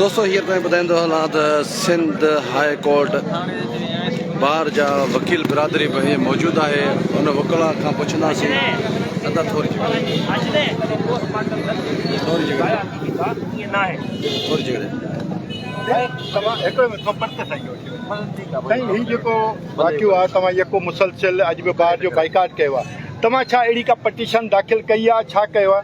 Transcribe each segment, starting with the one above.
دوستو هينئر توهين ٻڌائيندو هلان ته سنڌ هاء ڪورٽ بار جا وڪيل برادري به هيئن موجود آهي ان وڪلا کان پڇنداسين ادا ٿوري جهڙي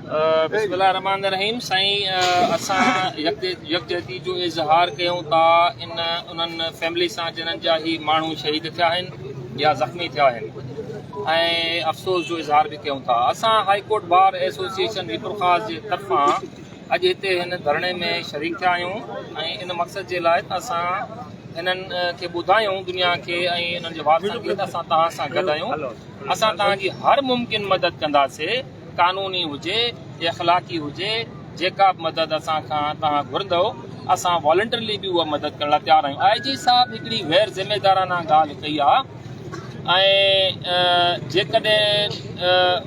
بسم الله الرحمٰن الرحيم سائين اسان يڪجهتي جو اظهار ڪيون ٿا ان انهن فيملي سان جنن جا هي ماڻهو شهيد ٿيا آهن يا زخمي ٿيا آهن ۽ افسوس جو اظهار به ڪيون ٿا اسان high court bar association Mirpurkhas جي طرفان اڄ هتي هن ڌرڻي ۾ شريڪ ٿيا آهيون ۽ ان مقصد جي لاء اسان انهن کي ٻڌايون دنيا کي ۽ انهن جي وارثن کي اسان تهان سان گڏ آهيون اسان تهان جي هر ممڪن مدد ڪنداسي قانوني هجي يا اخلاقي هجي جيڪا به مدد اسان کان توهان گهرندؤ اسان والنٽرلي به اها مدد ڪرڻ لاء تيار آهيون آء جي صاحب هڪڙي غير ذميدارانه ڳالهه ڪئي آهي ۽ جيڪڏهن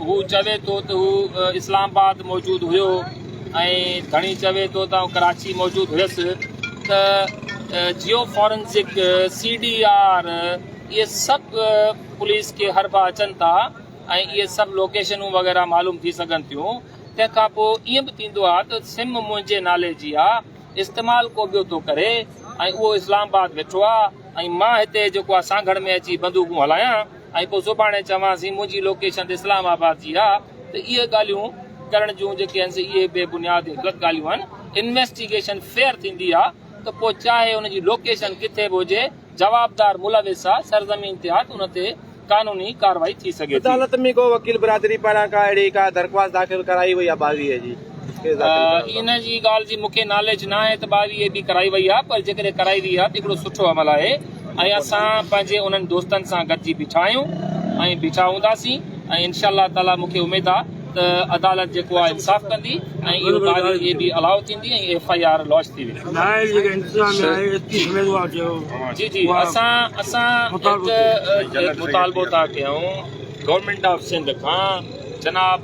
هو چوي ٿو ته هو اسلام آباد موجود هيو ۽ ڌڻي چوي ٿو ته ڪراچي موجود هيس ته geo forensic C D R اهي سڀ پوليس کي هربا اچن ٿا ۽ اهي سڀ لوڪيشنون وغيره معلوم ٿي سگهن ٿيون تنهن کان پو ائين به ٿيندو آ ته سم منهنجي نالي جي آ استعمال ڪو ٻيو ٿو ڪري ۽ اهو اسلام آباد ويٺو آ ۽ مان هتي جيڪو آ سانگهڙ ۾ اچي بندوقون هلايان ۽ پو سڀاڻي چوانسين منهنجي لوڪيشن ته اسلام آباد جي آ ته اهي ڳالهيون ڪرڻ جون جيڪي آهن سي اهي بي بنياد ۽ غلط ڳالهيون آهن انويسٽيگيشن فيئر ٿيندي آ ته پو چاهي ان جي لوڪيشن ڪٿي به هجي جوابدار ملوث آ سرزمين تحت ان تي قانوني ڪارروائي ٿي سگهي ٿي. عدالت ۾ ڪو وڪيل برادري پاران ڪا اهڙي ڪا درخواست داخل ڪرائي وئي آ ٻاويهي جي ڪيس داخل ڪرڻ لاء؟ ان جي ڳالهه جي مون کي ناليج نه آهي ته ٻاويهي به ڪرائي وئي آ پر جيڪڏهن ڪرائي وئي آ ته هڪڙو سٺو عمل آهي ۽ اسان پنهنجي انهن دوستن سان گڏجي بيٺا آهيون ۽ بيٺا هونداسين ۽ انشاء الله تعاليٰ مون کي اميد آ ته عدالت جيڪو آهي انصاف ڪندي ۽ اهو تاريخ اي بي الاء ٿيندي ۽ ايف آء آر لاچ ٿي ويندي. نااهل جيڪي انتظاميه آهي ايتري سمجهه وارو چيو. جي جي اسان اسان هڪ مطالبو ٿا ڪيون گورنمينٽ آف سنڌ کان جناب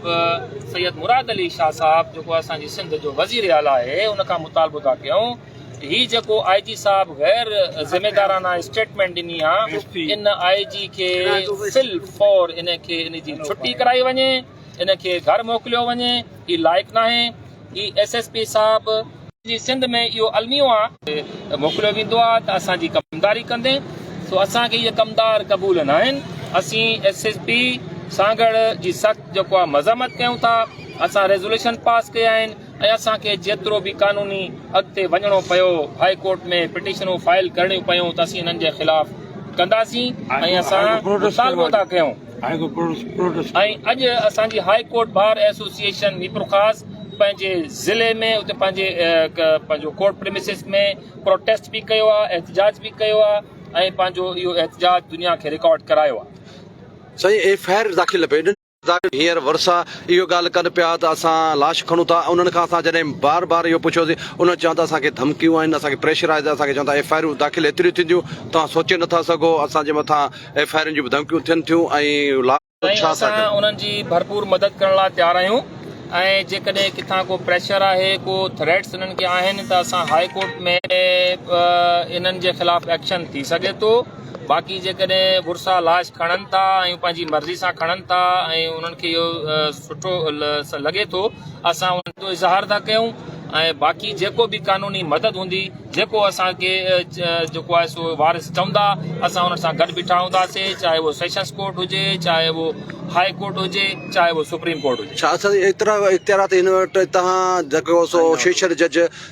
سيد مراد علي شاهه صاحب جيڪو اسان جي سنڌ جو وزير اعليٰ آهي ان کان مطالبو ٿا ڪيون هي جيڪو آء جي صاحب غير ذميدارانه اسٽيٽمينٽ ڏني آ ان آء جي کي في الفور ان کي ان جي ڇٽي ڪرائي وڃي ان کي گهر موڪليو وڃي هي لائق ناهي هي ايس ايس پي صاحب جي سنڌ ۾ اهو الميو آ. موڪليو ويندو آ ته اسان جي ڪمداري ڪندي سو اسان کي اهي ڪمدار قبول ناهن اسين ايس ايس پي سانگهڙ جي سخت جيڪو آ مذمت ڪيون ٿا اسان ريزوليشن پاس ڪئي آهن. ۽ اسان کي جيترو به قانوني اڳتي وڃڻو پيو، هاء ڪورٽ ۾ پٽيشنون فائل ڪرڻيون پيون ته اسين انهن جي خلاف ڪنداسين ۽ اسان مطالبو ٿا ڪيون ۽ اڄ اسان جي high court bar association Mirpurkhas پنهنجي ضلعي ۾ اتي پنهنجي پنهنجو ڪورٽ پريمسز ۾ پروٽيسٽ به ڪيو آهي احتجاج به ڪيو آهي ۽ پنهنجو اهو احتجاج دنيا کي رڪارڊ ڪرايو آهي. سائين ايف آء آر داخل نه پئي ڏين. ظاهر هينئر ورثا اهو ڳالهه ڪن پيا ته اسان لاش کڻون ٿا ۽ انهن کان اسان جڏهن بار بار اهو پڇيوسين انهن چيو ته اسان کي ڌمڪيون آهن اسان کي پريشر آهي ته اسان کي چون ٿا ايف آء آرون داخل ايتريون ٿينديون توهان سوچي نٿا سگهو اسان جي مٿان ايف آء آرن جون به ڌمڪيون ٿين ٿيون ۽ لاش ۽ اسان انهن جي ڀرپور مدد ڪرڻ لاء تيار آهيون ۽ جيڪڏهن ڪٿان ڪو پريشر آهي ڪو ٿريٽس انهن کي آهن ته اسان هاء ڪورٽ ۾ به انهن جي خلاف ايڪشن ٿي سگهي ٿو. باقي جيڪڏهن ڀرسان لاش کڻن ٿا ۽ پنهنجي مرضي سان کڻن ٿا ۽ انهن کي اهو سٺو لڳي ٿو اسان ان جو اظهار ٿا ڪيون ۽ باقي جيڪو به قانوني مدد هوندي جيڪو اسان کي جيڪو آهي سو وارث چوندا اسان انهن سان گڏ بيٺا هونداسين چاهي اهو سيشنز ڪورٽ هجي چاهي اهو هاء ڪورٽ هجي چاهي اهو سپريم ڪورٽ هجي. ڇا اسان جي اختيارات هن وٽ تهان جيڪو سو سيشن جج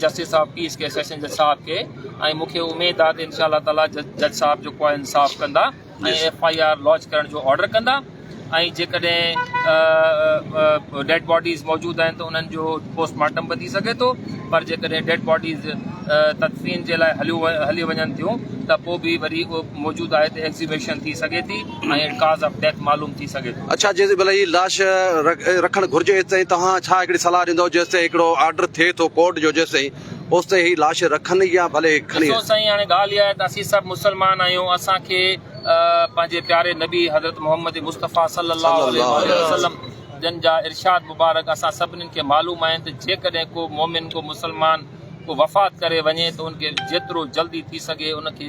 جسٽس آف پيس کي سيشن جج صاحب کي ۽ مون کي اميد آ ته انشاء الله تعالي جج صاحب جيڪو آ انصاف ڪندا ۽ ايف آئي آر لوج ڪرڻ جو آرڊر ڪندا ۽ جيڪڏهن ڊيڊ باڊيز موجود آهن ته انهن جو پوسٽ مارٽم به ٿي سگهي ٿو پر جيڪڏهن ڊيڊ باڊيز تدفين جي لاء هليون هليون وڃن ٿيون ته پوء به وري موجود آهي ته ايگزيويشن ٿي سگهي ٿي ۽ ڪاز آف ڊيٿ معلوم ٿي سگهي ٿو. اڇا جيسين ڀلا هي لاش رکڻ گهرجي ايستائين توهان ڇا هڪڙي صلاح ڏيندؤ جيستائين هڪڙو آرڊر ٿئي ٿو ڪورٽ جو جيستائين اوستائين هي لاش رکن يا ڀلي کڻي. ڏسو سائين هاڻي ڳالهه اها آهي ته اسين سڀ مسلمان آهيون اسان کي پنهنجي پياري نبي حضرت محمد مصطفيٰ صلي الله عليه واٰله وسلم جن جا ارشاد مبارڪ اسان سڀنين کي معلوم آهن ته جيڪڏهن ڪو مؤمن ڪو مسلمان ڪو وفات ڪري وڃي ته ان کي جيترو جلدي ٿي سگهي ان کي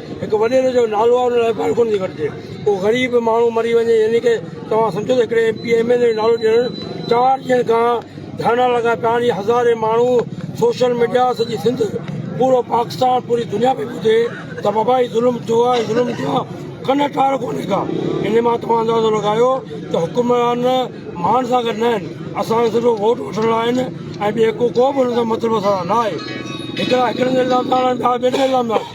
هڪ وڏيري جو نالو آهي ان لاء ڳالهه ڪونه ٿي گهٽجي ڪو غريب ماڻهو مري وڃي يعني ڪه توهان سمجهو ته هڪڙي M P M N A جو نالو ڏيڻ چار ڏينهن کان ڌرڻا لڳا پيا آهن هزارين ماڻهو سوشل ميڊيا سڄي سنڌ پورو پاڪستان پوري دنيا پي ٻڌي ته بابا هي ظلم ٿيو آهي ظلم ٿيو آهي ڪن ٽار ڪونهي ڪا ان مان توهان اندازو لڳايو ته حڪمران مان سان گڏ نه آهن اسان کي صرف ووٽ وٺڻ لاء آهن ۽ ٻي ڪو به هن سان مطلب اسان سان نه آهي هڪڙا هڪڙن جا الزام ٿا هڻن ٻيا ٻين جا الزام ٿا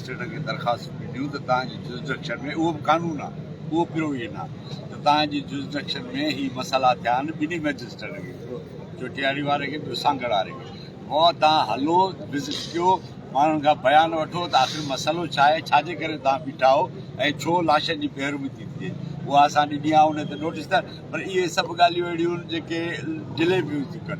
مئجسٽريٽن کي درخواستون ڏنيون ته توهان جي جرسڊڪشن ۾ اهو به قانون آهي اهو پروويزن آهي ته توهان جي جرسڊڪشن ۾ هي مسئلا ٿيا آهن ٻنهي مئجسٽريٽن کي هڪڙو چوٽياري واري کي ٻيو سانگهڙ واري کي مئو توهان هلو وزٽ ڪيو ماڻهن کان بيان وٺو ته آخر مسئلو ڇا آهي ڇا جي ڪري توهان بيٺا آهو ۽ ڇو لاشن جي بيرومتي ٿئي اها اسان ڏني آهي ان تي نوٽيس ته پر اهي سڀ ڳالهيون اهڙيون آهن جيڪي ڊلي پيون ٿيون ڪن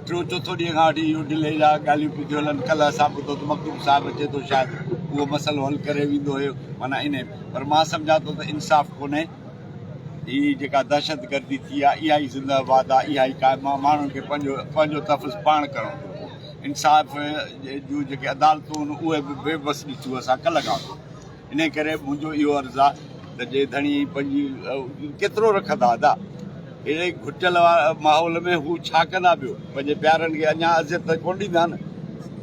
ٽيون چوٿون ڏينهن کان وٺي اهو ڊلي جا ڳالهيون پيون ٿيون هلن ڪلهه اسان ٻڌو ته مخدوم صاحب اچي ٿو شايد اهو مسئلو حل ڪري ويندو هيو معنيٰ ان پر مان سمجهان ٿو ته انصاف ڪونهي هي جيڪا دهشت گردي ٿي آهي اها ئي زنده آباد آهي اها ئي قائم آهي ماڻهن کي پنهنجو پنهنجو تحفظ پاڻ ڪرڻو ٿو انصاف جون جيڪي عدالتون آهن اهي به بي بس ڏسيون اسان ڪلهه کان انهيء ڪري منهنجو اهو عرض آ ته جي ڌڻي پنهنجي ڪيترو رکندا ادا اهڙي گهٽيل ماحول ۾ هو ڇا ڪندا ٻيو پنهنجي پيارن کي اڃان اذيت ته ڪونه ڏيندا نه.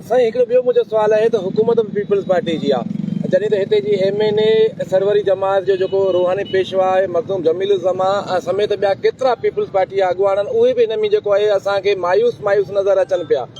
سائين هڪڙو ٻيو منهنجو سوال آهي ته حڪومت به پيپلز پارٽي جي آ جڏهن ته هتي جي M N A Sarwari Jamaat جو جيڪو روحاني پيشوا آهي مخدوم جميل الزمان سميت ٻيا ڪيترا پيپلز پارٽي جا اڳواڻ آهن اهي به هن ۾ جيڪو آهي اسان کي مايوس مايوس نظر اچن پيا.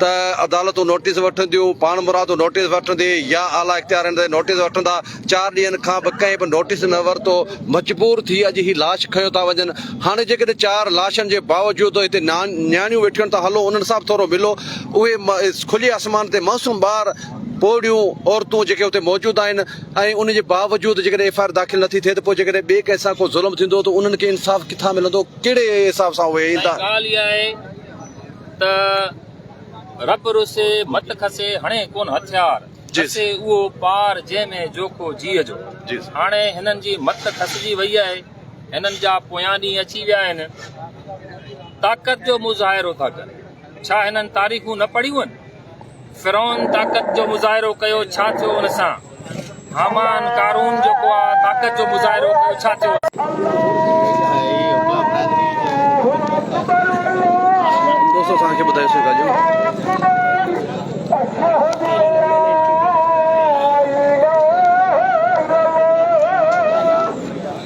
ته عدالتون نوٽيس وٺنديون، پاڻمرادو نوٽيس وٺندي يا اعليٰ اختيارين تي نوٽيس وٺندا، چار ڏينهن کان به ڪنهن به نوٽيس نه ورتو، مجبور ٿي اڄ هي لاش کنيو ٿا وڃن، هاڻي جيڪڏهن چار لاشن جي باوجود هتي نياڻيون ويٺيون آهن ته هلو انهن سان به ٿورو ملو، اهي کلي آسمان تي معصوم ٻار، پوڙهيون عورتون جيڪي اتي موجود آهن ۽ ان جي باوجود جيڪڏهن ايف آء آر داخل نٿي ٿئي ته پوء جيڪڏهن ٻئي ڪنهن سان ڪو ظلم ٿيندو ته انهن کي انصاف ڪٿان ملندو، ڪهڙي حساب سان اهي ايندا. ته رب روسي مت کسي هڻي ڪون هٿيار کسي اهو پار جنهن ۾ جوکو جيء جو هاڻي هنن جي مت کسجي وئي آهي هنن جا پويان ڏينهن اچي ويا آهن طاقت جو مظاهرو ٿا ڪن ڇا هنن تاريخون نه پڙهيون آهن فرعون طاقت جو مظاهرو ڪيو ڇا ٿيو ان سان؟ هامان، قارون جيڪو آ طاقت جو مظاهرو ڪيو ڇا ٿيو ان سان؟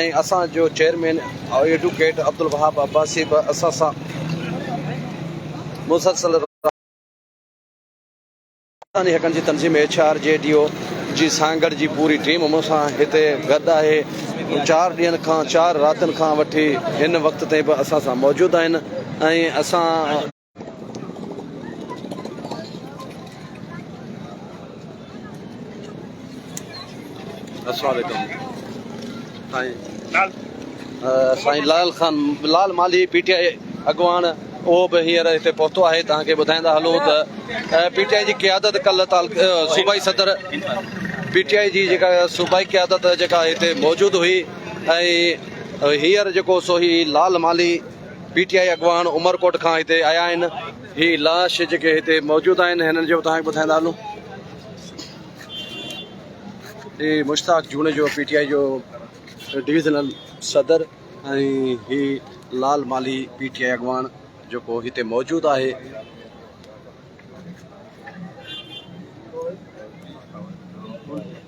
۽ اسان جو چيئرمين ايڊووڪيٽ عبدالوهاب عباسي به اسان سان مسلسل رابطي ۾ آهي. انساني حقن جي تنظيم H R G D O جي سانگهڙ جي پوري ٽيم مون سان هتي گڏ آهي. چار ڏينهن کان چار راتين کان وٺي هن وقت تائين به اسان سان موجود آهن ۽ اسان سائين لال خان لال مالهي پي ٽي آء اڳواڻ اهو به هينئر هتي پهتو آهي توهان کي ٻڌائيندا هلون ته پي ٽي آء جي قيادت ڪل صوبائي صدر پي ٽي آء جي جيڪا صوبائي قيادت جيڪا هتي موجود هئي ۽ هينئر جيڪو سو هي لال مالهي پي ٽي آء اڳواڻ عمرڪوٽ کان هتي آيا آهن هي لاش جيڪي هتي موجود آهن هنن جو توهان کي ٻڌائيندا هلون هي Mushtaq Junejo P T I جو ڊويزنل صدر ۽ هي لال مالهي پي ٽي آء اڳواڻ جيڪو هتي موجود آهي